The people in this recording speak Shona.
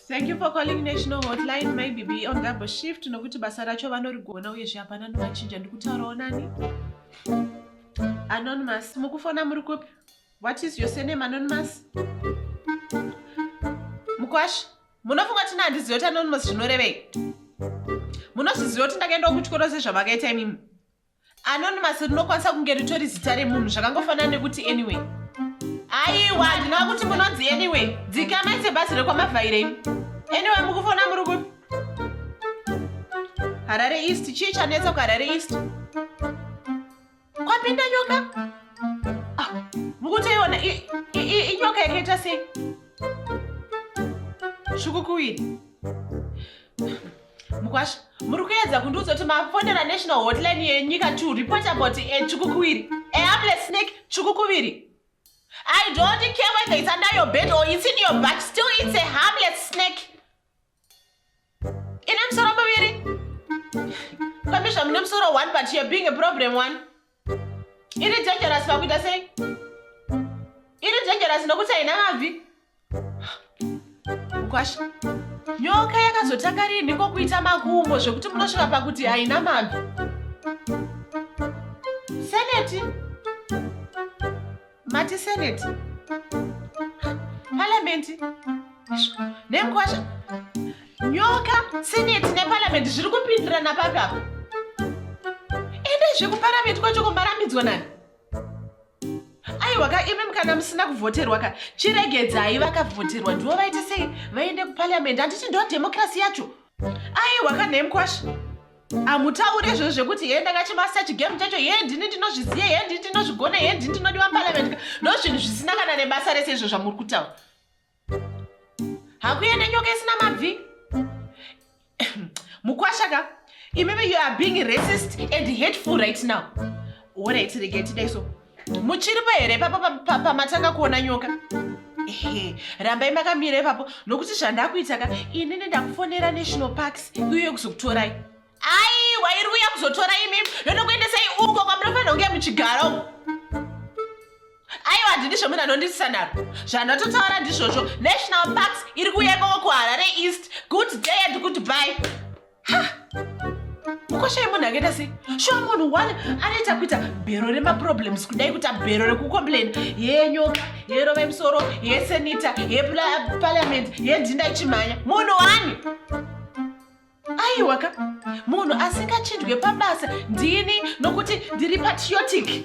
Thank you for calling National Hotline. Maybe be on double shift nokuti basa racho vanorigona uyezve hapana novachinja ndikutaurawo nani. Anonymous, mukufona muri kupi? What is your surname Anonymous? Mukwashi, munofunga tina handiziva kuti Anonymous zvinorevei? Munozviziva kuti ndakaendawo kuchikoro sezvamakaita imimi? anonymous rinokwanisa kunge ritori zita remunhu zvakangofanana nekuti anyway aiwa ndinova kuti munonzi anyway dzikamai sebhazi rekwamavhaire imi anyway mukufona muri kupi harare east chii chanetsa kuharare east kwapinda nyoka ah, mukutoiona inyoka yakaita sei svukukuwiri mukwasha muri kuedza kundiudza kuti mafonera national hotline yenyika to report about a chukukuviri a harmless snake chukukuviri i don't care whether it's under your bed or it's in your back still it's a harmless snake ine musoro muviri kwamizva mune musoro one but you're being a problem one iri dangerous pakuita sei iri dangerous nokuti haina mabvi mukwasha nyoka yakazotanga rinhi kokuita makumbo zvekuti munosvika pakuti haina mabvi seneti mati senate parliament nenkwasha nyoka senate neparliament zviri kupindirana papi apo ende zvekuparliament kwacho kumbarambidzwa nani aiwa ka imim kana musina kuvhoterwa ka chiregedzai vakavhoterwa ndivo vaite sei vaende kuparliament handiti ndo democracy yacho aiwa ka nemkwasha amutaure izvozvo zvekuti hee ndakachema search game chacho hee ndini ndinozviziva hee ndini ndinozvigona hee ndini ndinodiwa parliament ndo zvinhu zvisina kana nebasa rese izvo zvamuri kutaura hakuende nyoka isina mabvi mukwashaka imimi you are being racist and hateful right now orai tiregei tidai so muchiripo here ipapo pamatanga kuona nyoka ehe rambai makamira ipapo nokuti zvandakuita ka inini ndakufonera national parks iuye kuzokutorai aiwa iri kuuya kuzotora imi ndonokuendesai uko kwamunofanira kunge muchigara uko aiwa handidi zvomunhu anondisisa naro zvandatotaura ndizvozvo national parks iri kuuya ikoko kuharare east good day and good bye mukoshai munhu akaita sei shuwa munhu one anoita kuita bhero remaproblems kudai kuita bhero rekucomplaina yenyoka yerova imusoro yesenita yepaliament yendinda ichimhanya munhu wani aiwaka munhu asingachindwe pabasa ndini nokuti ndiri patriotic